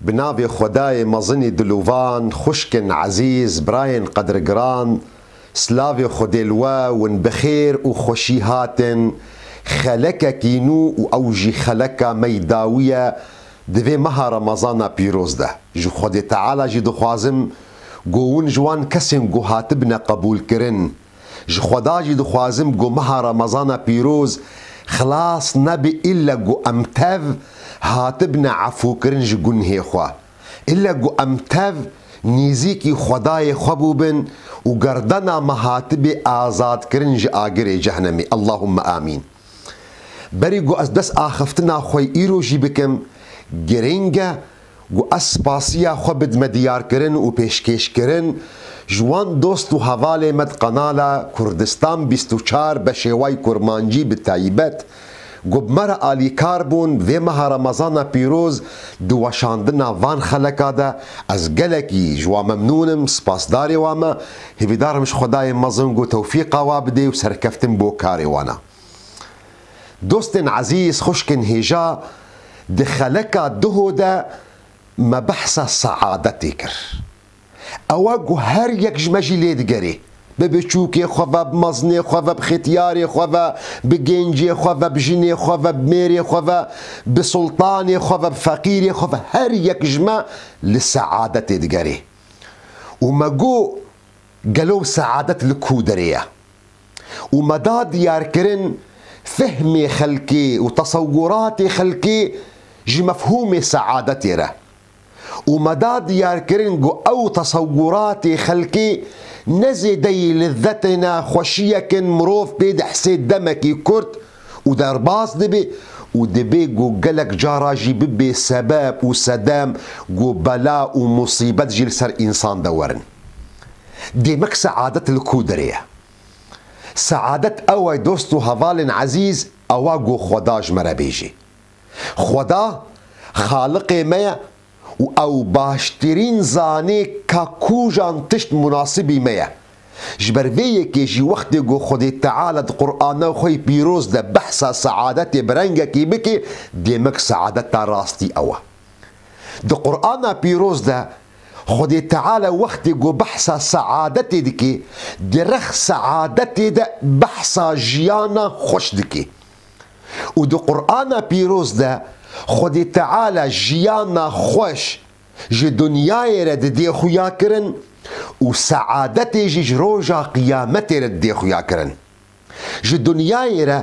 Bi navê Xwedayê mezinî dilûvan, xwişkên ezîz, birayên qedrgiran, silavê Xwedê li we, win bi xêr û xweşî hatin, xelekekî nû û ew jî xeleka me yî dawiye di vê meha remezana pîroz de. Ji Xwedê Teala jî dixwazim ku win ji wan kesên ku hatibine qebûlkirin, Ji Xweda jî dixwazim ku meha Remezana pîroz xilas nebe îlle ku em tev hatibine efûkirin ji gunhê xwe, îlle ku em tev nêzîkî Xwedayê xwe bûbin û gerdena me hatibê azadkirin ji agirê cehnemê. Allahûmme amîn. Berî ku ez dest axiftina xwe îro jî bikim, girîng e, Ku ez spasiya xwe bidme diyarkirin û pêşkêşkirin ji wan dost û hevalê me di kanala Kurdistan bîst û çar be şêway kurmancî bi taybet ku bi me re alîkar bûn vê meha remezana pîroz di weşandina van xeleka de ez gelekî ji wan memnûn im spasdarê wan me hêvîdar im ji xwedayê mezin ku tewfîqa wan bidê û serkeftin bo karê wan e. Dostên ezîz, xwişkên hêja, di xeleka Duho de me behsa seadetê kir. Ewa ku her yek ji me jî lê digerê. Bi biçûkê xwe ve, bi mezinê xwe ve, bi xetiyarê xwe ve, bi gêncê xwe ve, bi jinê xwe ve, bi mêrê xwe ve, bi sultanê xwe ve, bi feqîrê xwe ve, her yek ji me li seadetê digerê. Û me got, Gelo ew seadet li ku derê ye? û me da diyarkirin fehmê xelkê û tesewuratê xelkê ji mefhûmê seadetê re û me da diyarkirin ku ew tesewuratê xelkê ne zêdeyî lizzetê ne xweşiyek in mirov pê dihsê demekî kurt û derbas dibe û dibe ku gelek cara jî bibe sebeb û sedem ku bela û musîbet jî li ser însan de werin. Demek seadet li ku derê ye? Seadet ew e dost û hevalên ezîz ewa ku Xweda ji me re bêjî. Xweda Xaliqê me ye û ew baştirîn zanê ka kujan tişt munasibî me ye. Ji ber vê yekê jî wextê ku Xwedê Teala di Qurana xwe yê pîroz de behsa seadetê bi rengekî bike demek seadeta rastî ew e. Di Qurana pîroz de Xwedê Teala wextê ku behsa seadetê dike, di rex seadetê de behsa jiyana xweş dike. Û di Qur'ana pîroz de Xwedê Teala jiyana xweş ji dinyayê re didê xuyakirin û seadetê jî ji roja qiyametê re didê xuyakirin. Ji dinyayê re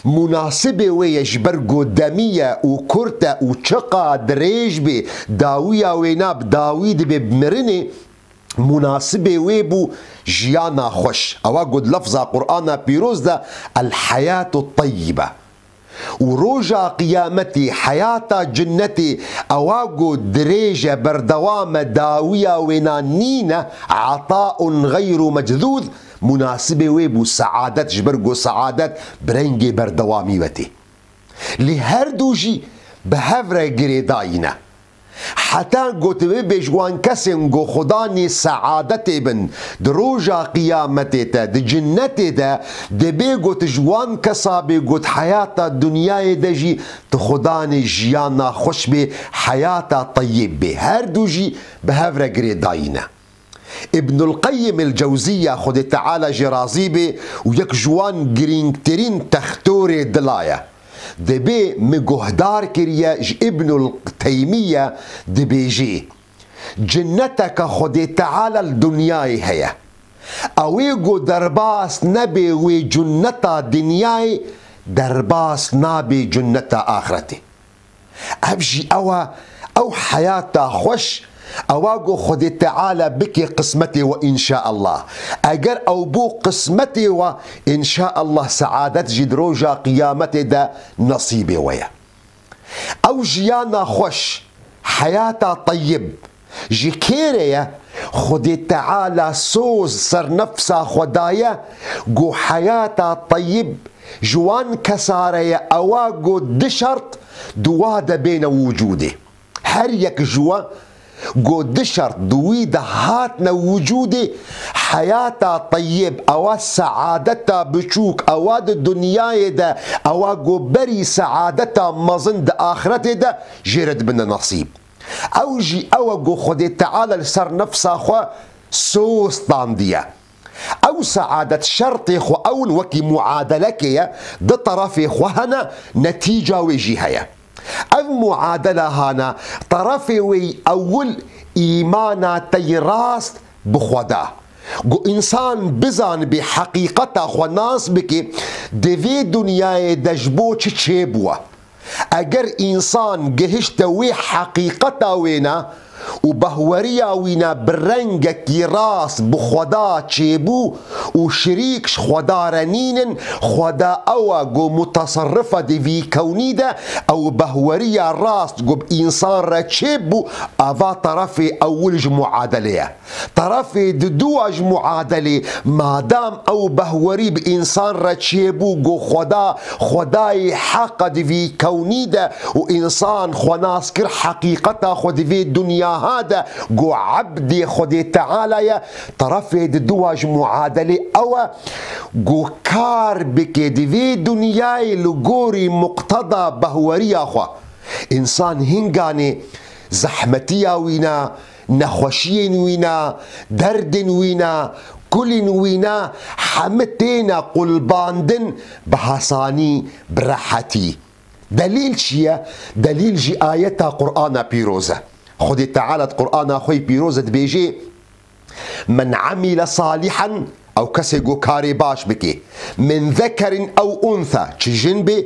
mûnasibê wê ye ji ber ku demî ye û kurt e û çiqa dirêj bê dawiya wê na bi dawî dibê bi mirinê mûnasibê wê bû jiyana xweş. Ewa got lefza Qur'ana pîroz de El-Hayatu Teyyibe. û roja qiyametê heyata cinnetê ewa go dirêj e berdewam e dawiya wêna nîn e ataun xeyru mecdûd munasibê wê bû seadet ji ber go seadet bi rengê berdewamî ve tê lê her du jî bi hev re girêdayîn e. Heta got bibêj wan kesên ku Xudanî seadetê bin di roja qiyametê te di cinnetê de dibê got ji wan kesa bê got heyata dinyayê de jî tu Xudanî jiyana xweş bê heyata teyîb bê herdu jî bi hev re girê dayîne. Îbnul Qeyim El Cewzîya Xwedê Teala jê razî be û yek ji wan girîngtirîn textorê dila ye. Dibê min guhdar kiriye ji Îbnul Teymîye dibêjê, Cineteke Xwedê Teala li dinyayê heye. Ew ê ku derbas nebe wê cineta dinyayê derbas nabe cineta axretê. Ev jî ew e, ew heyata xweş ewa ku Xwedê Teala bike qismetê we inşaallah. Eger ew bû qismetê we, inşaallah seadet jî di roja qiyametê de nesîbê we ye. Ew jiyana xweş, heyata teyib, Ji kê re ye? Xwedê Teala soz ser nefsa xwe daye ku heyata teyib ji wan kesa re ye ewa ku du şert di wa de bêne wicûdê. Her yek ji we ku du şert di wî de hatine wicûdê, heyata teyib ewa seadeta biçûk ewa di dinyayê de ewa ku berî seadeta mezin di axiretê de jê re dibine nesîb. Ew jî ew e ku Xwedê Teala li ser nefsa xwe soz standiye. Ew saadet şertê xwe ew in wekî muadelekê ye, du terefê xwe hene, netîca wê jî heye. Ev muadela hana terefê wê yî ewil îmana te yî rast bi xwe da. Ku însan bizanibê heqîqeta xwe nas bike, di vê dinyayê de ji bo çi çêbûye. Eger însan gihişte wê heqîqeta wêne û behweriya wîne bi rengekî rast bi Xweda çêbû û şirîk ji Xweda re nînin, Xweda ew e ku mutasirrif e di vî kewnî de, ew behweriya rast ku bi însan re çêbû, eva terefê ewil ji muadelê ye. Tarafê di dûa ji muadelê, madam ew behwerî bi însan re çêbû got xweda, xwedayê heqa di vî kewnî de û însan xwe nas kir heqîqeta xwe di vê dunyaha de got ebdê Xwedê Teala ye, tarafê di dûa ji muadelê ew e got kar bike di vê dunyayê li gorî muqteda behweriya xwe. Însan hînganê zehmetiya wî ne, Nexweşiyên wî ne, derdên wî ne, kulîn wî ne heme têne qulbandin bi hesanî, bi rehetî. Delîl çi ye? Delîl jî ayeta Qur'ana pîroz e. Xwedê Teala di Qur'ana xwe yê pîroz de dibêjê, Men amile salihan ew kesê ku karê baş bikê, min zekerin ew untha, çi jin bê,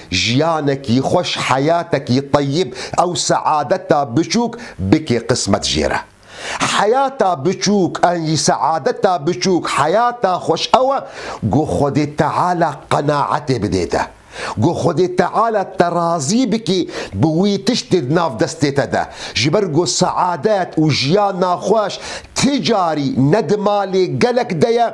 Jiyanekî xweş, heyatekî teyib ew seadeta biçûk bikê qismet jê re. Heyata biçûk an jî seadeta biçûk, heyata xweş ew e ku Xwedê Teala qenaetê bidê te. Ku Xwedê Teala te razî bikî bi wî tiştê di nav destê te de. Ji ber ku seadet û jiyana xweş ti carî ne di malê gelek de ye,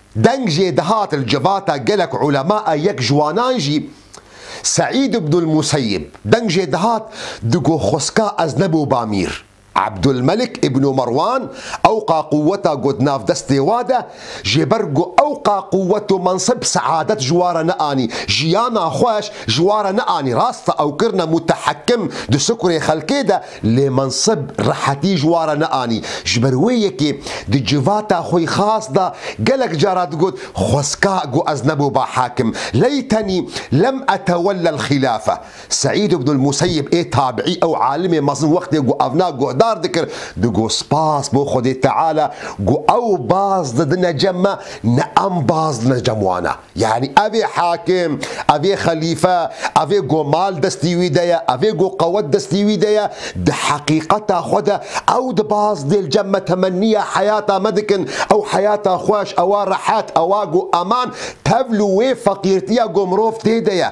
Deng jê dihat li civata gelek ulema a yek ji wanan jî Seîd Ibnul Museyib deng jê dihat digo xweska ez ne bo Bamîr. Ebdulmelik Ibnu Merwan ew ka quweta got nav destê wa de jê ber ku ew ka quwet û mensib seadet ji wa re neanî, jiyana xweş ji wa re neanî, rast e ew kirine mutehekim di sikurê xelkê de, Lê Mansib rehetî ji wan re neanî. Ji ber wê yekê di civata xwe yê xas de gelek cara digot, Xweska ku ez neboba hakim, leytenî lem etewellel xîlafe. Seîd ibnul Museyib ê tabiî ew alimê mezin wextê ku evna guhdar dikir, digot spas bo Xwedê Teala ku ew baz didine cem me ne em baz didine cem wan e. Yanî ev ê hakim, ev ê xelîfe, ev ê ku mal destî wî de ye, ev ê ku qewet destî wî de ye, di heqîqeta xwe de ew di baz dê li cem me temenniya heyata me dikin, ew heyata xweş, ewa rehet, ewa ku eman tevl û wê feqîrtiya ku mirov tê de ye.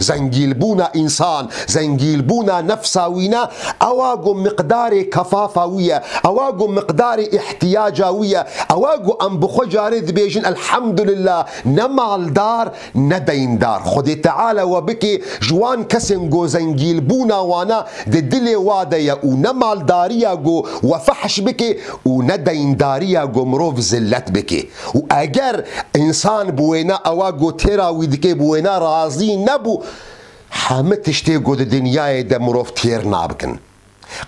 Zengîlbûna însan, zengîlbûna nefsa wî ne, ewa ku miqdarê kefafa wî ye, ewa ku miqdarê îhtîyaca wî ye, ewa ku em bi xwe carê dibêjin Elhamdulillah ne maldar ne deyndar. Xwedê Teala we bike ji wan kesên ku zengîlbûna wane di dilê wa de ye û ne maldariya ku we fehş bike û ne deyndariya ku mirov zillet bike. û eger însan bi wêna ewa ku têra wî dike bi wêna razî nebû, hemû tiştê ku di dinyayê de mirov têr nabikin.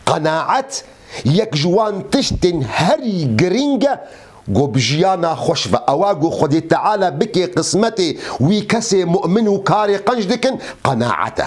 Qenaet yek ji wan tiştên herî girîng e ku bi jiyana xweş ve ewa ku Xwedê Teala bike qismetê wî kesê mu'min û karê qenc dikin qenaet e.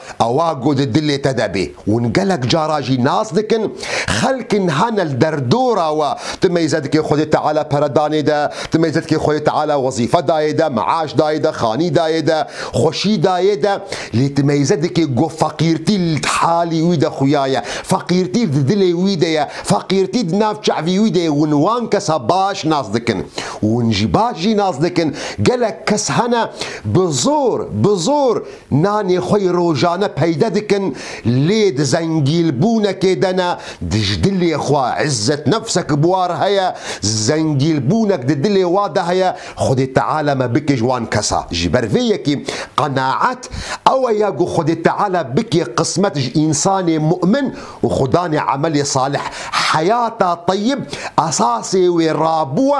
Ewa ku di dilê te de bê. Hûn gelek cara jî nas dikin, xelkin hene li derdora we, tu mêzedikê Xwedê Teala pere danê de, tu mêzedikê Xwedê Teala wezîfe dayê de, meaş dayê de, xanî dayê de, xweşî dayê de, lê tu mêzedikê ku feqîrtî li halî wî de xuya ye, feqîrtî di dilê wî de ye, feqîrtî di nav çavî wî de ye, hûn wan kesa baş nas dikin. Hûn jî baş jî nas dikin, gelek kes hene bi zor, bi zor, Nanê xwe yê rojane peyde dikin lê di zengîlbûnekê de ne, di ji dilê xwe. Îzzetnefsek bi war heye, zengîlbûnek di dilê wa de heye, Xwedê Teala me bike ji wan kesa. Ji ber vê yekê qenaet ew ye ku Xwedê Teala bike qismet ji însanê mu'min û xwe danê emelê salih. Heyata teyib esasê wê rabûye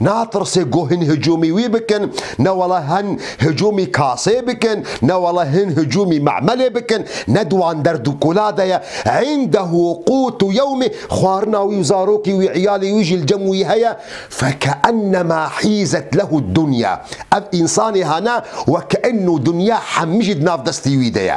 Natirsê ku hin hicûmî wî bikin, ne wala hin hicûmî kasê bikin, ne wala hin hicûmî me'melê bikin, ne di wan derd û kula de ye. Indehû qûtu yewmî, xwarina wî û zarokî wî, îyalê wî jî li cem wî heye. Fek'ennema hîzet lehu dunya, ev însanê hene wek'enû dunya hemî jî di nav destê wî de ye.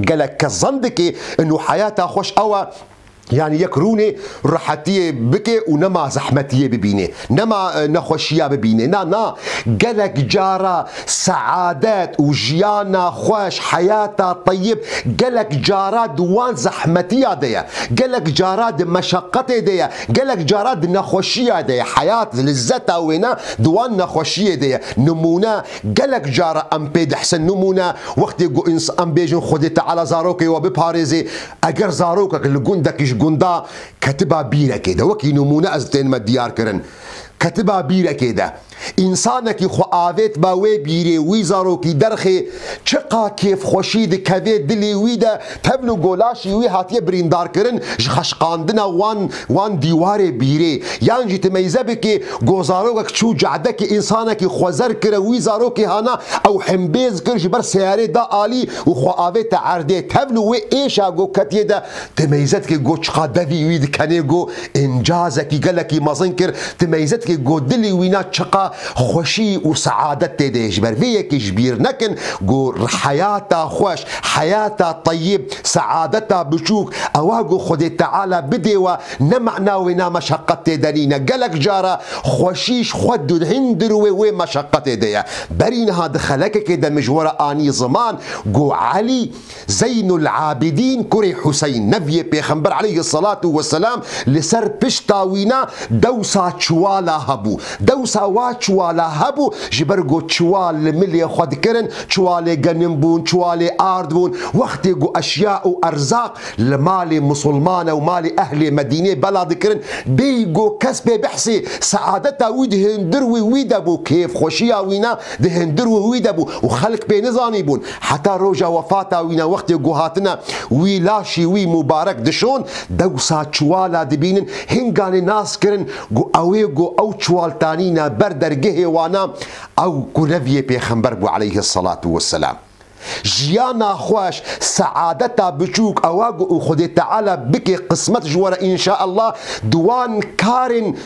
gelek kes zan dike inu heyata xwe ji ewa yanî yek rûnê rehetiyê bike û nema zehmetiyê bibîne, nema nexweşiya bibîne. Na, na, gelek cara seadet û jiyana xweş, heyata teyib gelek cara di wan zehmetiya de ye, gelek cara di meşeqetê de ye, gelek cara di nexweşiya de ye. Heyat, lizzeta wêne di wan nexweşiyê de ye. Nimûne, Gelek cara em pê dihsin nimûne wextê ku ins em bêjin Xwedê Teala zarokê we biparêzê, eger zarokek li gundekî ji gunda ketiba bîrekê de, wekî nimûne ez tênime diyar kirin, ketiba bîrekê de, însanekî xwe avêtba wê bîrê wî zarokî derxê, çiqa kêfxweşî dikevê dilê wî de, Tevl û golaşî wî hatiye birîndarkirin ji xeşqandina wan wan dîwarê bîrê. Yan jî tu meyze bikê ku zarokek çû cehdekê însanekî xwe zer kir û wî zarokê hana ew himbêz kir ji ber seyarê da alî û xwe avê te erdê. Tevl û wê êşa ku ketiye de tu meyze dikê ku çiqa devî wî dikenê ku Încazekî gelekî mezin kir, di meyzetkî ku dilî wî na çiqa xweşî û seadet tê de ye. Ji ber vê yekê ji bîr nekin ku heyata xweş, heyata teyîb, seadeta biçûk, ewa ku Xwedê Teala bidê we, ne mana wê na meşeqet tê de nîne. Gelek cara xweşîş xwe dihîn dirûê wê meşeqetê de ye. Berî niha di xelekekê de min ji we re anî ziman ku Elî, Zeynul Abidîn kurê Huseyn, nevyê Pêxember aleyhi selatû we selam li ser pişta wî ne dewsa çiwala hebû. Dewsa wa çiwala hebû ji ber ku çiwal li milê xwe dikirin, çiwalê genim bûn, çiwalê ard bûn. Wextê ku eşya û erzaq li malê Musulmane û malê ehlê Medînê bela dikirin, bêyî ku kes pê bihsê, seadeta wî di hindir wî wî de bû, kêfxweşiya wî ne di hindir wî wî de bû û xelk pê nizanîbûn. Heta roja wefata wî ne wextê ku hatine wî laşî wî Mubarek dişon dewsa çiwala dibînin hinganê nas kirin ku ew ê ku ew çiwal tanîne ber dergehê wan a ew ku reviyê pêxember bû aleyhi selatû weselam. Jiyana xweş, seadeta biçûk ew a ku Xwedê Teala bike qismet ji we re inşaallah di wan karên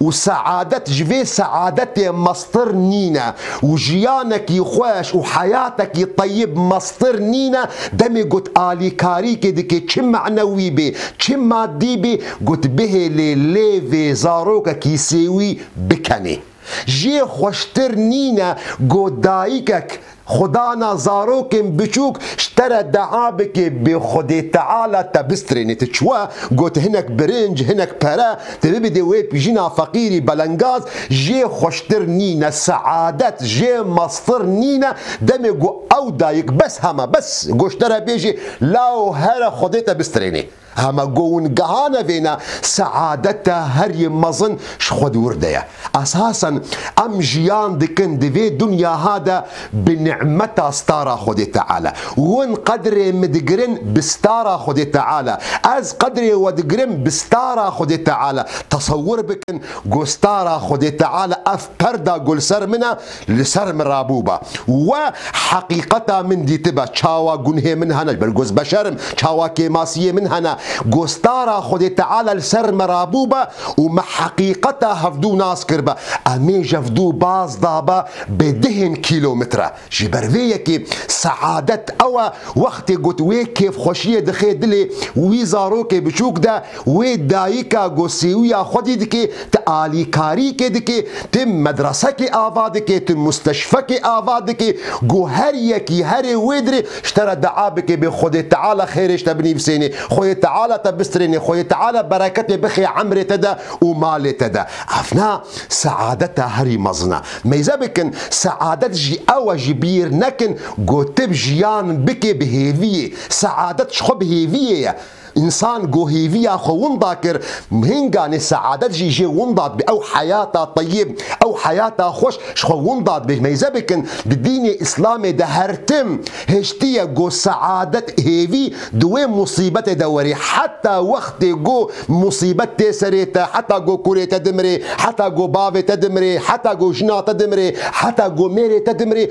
Û seadet ji vê seadetê meztir nîne û jiyanekî xweş û heyatekî teyib meztir nîne, demê got alîkarîkê dike çi manewî bê, çi madî bê, got bihêlê lê vê zarokekî sêwî bikenê. Jê xweştir nîne got dayikek Xwe dana zarokên biçûk ji te re dea bike bê Xwedê Teala te bistrêne. Tu çiwe got hinek birinc, hinek pere tu bibidê wê pîjina feqîrî belengaz jê xweştir nîne, seadet jê meztir nîne, demê ku ew dayik bes heme bes goşt te re bêjê law here Xwedê te bistrêne. Heme go û nigeha nevêne seadete her yê mezin ji xwe dûr de ye. Esasen em jiyan dikin di vê dunyaha de bi nimeta stara Xwedê Teala. Win qedrê min digirin bi stara Xwedê Teala, ez qedrê we digirim bi stara Xwedê Teala. Tesewur bikin ku stara Xwedê Teala ev perda ku li ser min e, Li ser min rabûba. We heqîqeta min dîtiba. Çawa gunhê min hene, ji ber goz beşer im, çawa kêmasiyê min hene. Gostara Xwedê Teala li ser min rabûba û me heqîqeta hevdû nas kiriba. Em ê jevdû baz daba bi dihên kîlometre. Ji ber vê yekê seadet ew e wextê got wê kêfxweşiyê dixe dilê wî zarokê biçûk de Wê dayika ku sêwîya xwedî dike, tu alîkarîkê dike, tu medresekê ava dike, tu musteşfekê ava dike, ku her yekî herê wê dirê ji te re dua bike bê Xwedê Teala xêrê ji te binivîsêne, Xwedê Teala te bistirêne, Xwedê Teala bereketê bixê emrê te de û malê te de. Ev ne seadeta herî mezin e. Meyze bikin, seadet jî ew e ji bîr nekin ku tu jiyan bikê bi hêviyê. Seadet ji xwe bi hêviyê ye. Însan ku hêviya xwe winda kir, hinga nê seadet jî jê winda dibe. Ew heyata teyib, ew heyata xweş ji xwe winda dibe. Mêze bikin, di dînê Îslamê de her tim hiştiye ku seadet, hêvî di wê musîbetê de were. Heta wextê ku musîbet tê serê te, heta ku kurê te dimire, heta ku bavê te dimire, heta ku jina te dimire, heta ku mêrê te dimire,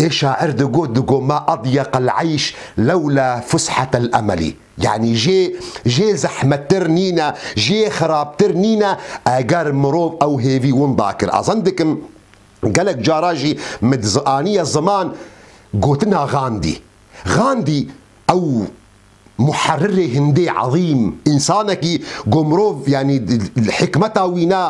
Ê şair digot digo ma adyeq el eyş lewla fushat el emelî yanî jê jê zehmettir nîne, jê xirabtir nîne eger mirov ew hêvî winda kir. Azan dikim gelek cara jî min di zianiya ziman gotina Gandî. Gandî ew Muherrirê hindê ezîm, însanekî ku mirov yanî li hikmeta wî ne,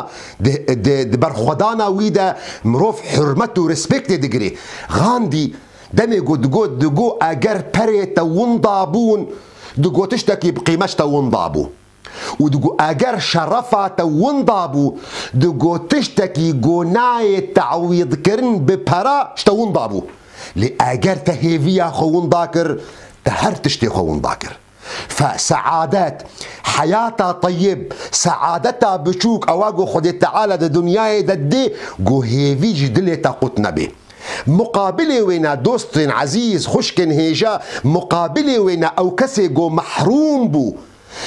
di berxwedana wî de mirov hurmet û respektê digire. Gandî demê ku digot digo eger perê te winda bûn, digo tiştekî bi qîmet te winda bû. û digo eger şerefa te winda bû, digo tiştekî ku nayê te'wîdkirin bi pere ji te winda bû. Lê eger te hêviya xwe winda kir, te her tiştê xwe winda kir. Fe, se'adet, heyata teyib, se'adeta biçûk ew e ku Xwedê Teala di dinyayê de didê ku hêvî ji dilê te qut nebe. Muqabilê wê ne dostên ezîz, xwişkên hêja, muqabilê wê ne ew kesê ku mehrûm bû,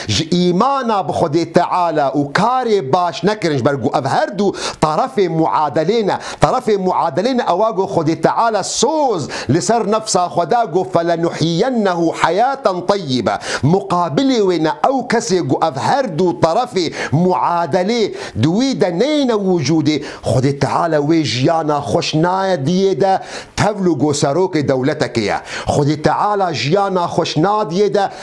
Ji îmana bi Xwedê Teala û karê baş nekirin ji ber ku ev her du tarefê muadelê ne. Tarefê muadelê ne ewa ku Xwedê Teala soz li ser nefsa xwe da ku felenuhyiyennehu heyaten teyyibe. Muqabilê wê ne ew kesê ku ev her du tarefê muadelê di wî de neyêne wicûdê, Xwedê Teala wê jiyana xweş naye diyê de tevl û ku serokê dewletekê ye. Xwedê Teala jiyana xweş nadiyê de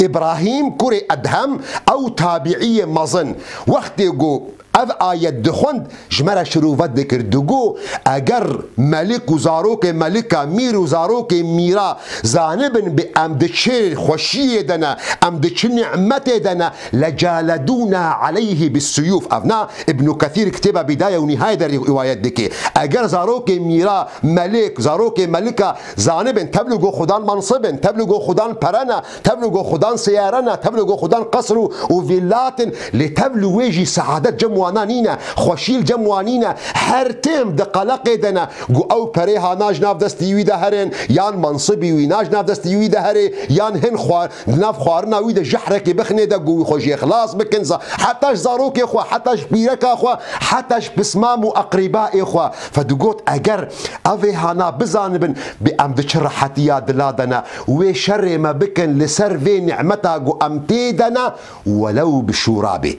Îbrahîm kurê Edhem ew tabîîyê mezin wextê ku ev ayet dixwend ji me re şirûvet dikir digo eger melik û zarokê melika, mîr û zarokê mîra zanibin bê em di çi xweşîyê de ne, em di çi nî'metê de ne lecaledûna aleyhî bissuyûf ev na Îbnû Kethîr kitêba Bîdaye û Nîhaye de rîwayet dike eger zarokê mîra, melik, zarokê melika, Zanibên tevlû go xudan mansib in, tevlû go xudan pere ne, tevlû go xudan seyare ne, tevlû go xudan qesr û û vîllat in, lê tevlû wê jî seadet cem wana nîne, xweşî li cem wan nîne, her têm di qeleqê de ne ku ew perê hana ji nav destî wî de herên yan mansibî wîna ji nav destî wî de herê yan hin xwe Li nav xwarina wî de jehrekê bixine de ku wî xwe jê xilas bikin, heta ji zarokê xwe, heta ji pîreka xwe, heta ji pismam û eqrîbaê xwe. Ve digot, Eger ev vê hana bizanibin bê em di çi rehetiya dila de ne, wê şerê me bikin li ser vê nimeta ku em tê de ne welew bi şûra bê.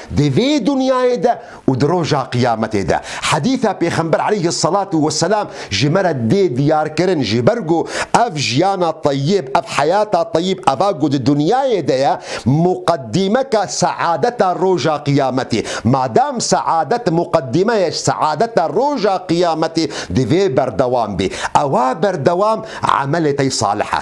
Di vê dinyayê de û di roja qiyametê de. Hedîsa Pêxember aleyhi selatû weselam ji me re dê diyarkirin ji ber ku ev jiyana teyîb, ev heyata teyîb eva ku di dinyayê de ye muqedîmeke seadeta roja qiyametê. Madam seadet muqedîme ye ji seadeta roja qiyametê divê berdewam bê. Ewa berdewam emelê te salih e.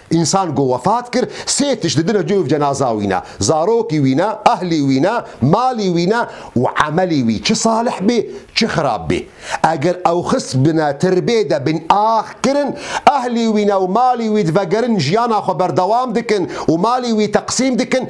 Însan ku wefat kir sê tişt didine cû cenaza wî ne, zarokî wî ne, ehlî wî ne, malî wî ne û emelî wî çi salih bê çi xirab bê. Eger ew xist bine tirbê de bên ax kirin, ehlî wî ne û malî wî divegerin jiyana xwe berdewam dikin û malî wî teqsîm dikin,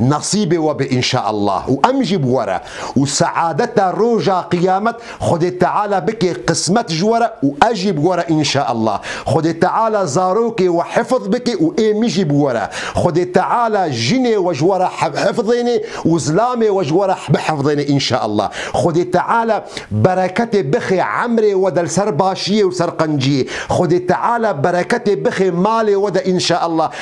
Nasîbê we be înşaallah û em jî bi we re û seadeta roja qiyamet Xwedê Teala bike qismet ji we re û ez jî bi we re înşaallah. Xwedê Teala zarokê we hifz bike û ê min jî bi we re. Xwedê Teala jinê we ji we re hifzênê û zilamê we ji we re bihifzênê înşaallah. Xwedê Teala bereketê bixe emrê we de li ser başiyê û li ser qenciyê. Xwedê Teala bereketê bixe malê we de înşaallah.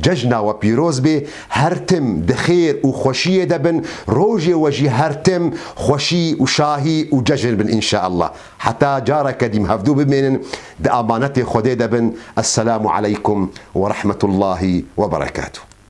Cejna we pîroz bê, her tim di xêr û xweşiyê de bin, rojê we jî her tim xweşî û şahî û cejn bin inşaallah. Heta careke dîm hevdû bimênin di amanetê Xwedê de bin, Esselamu aleykum werehmetullahî weberekatû.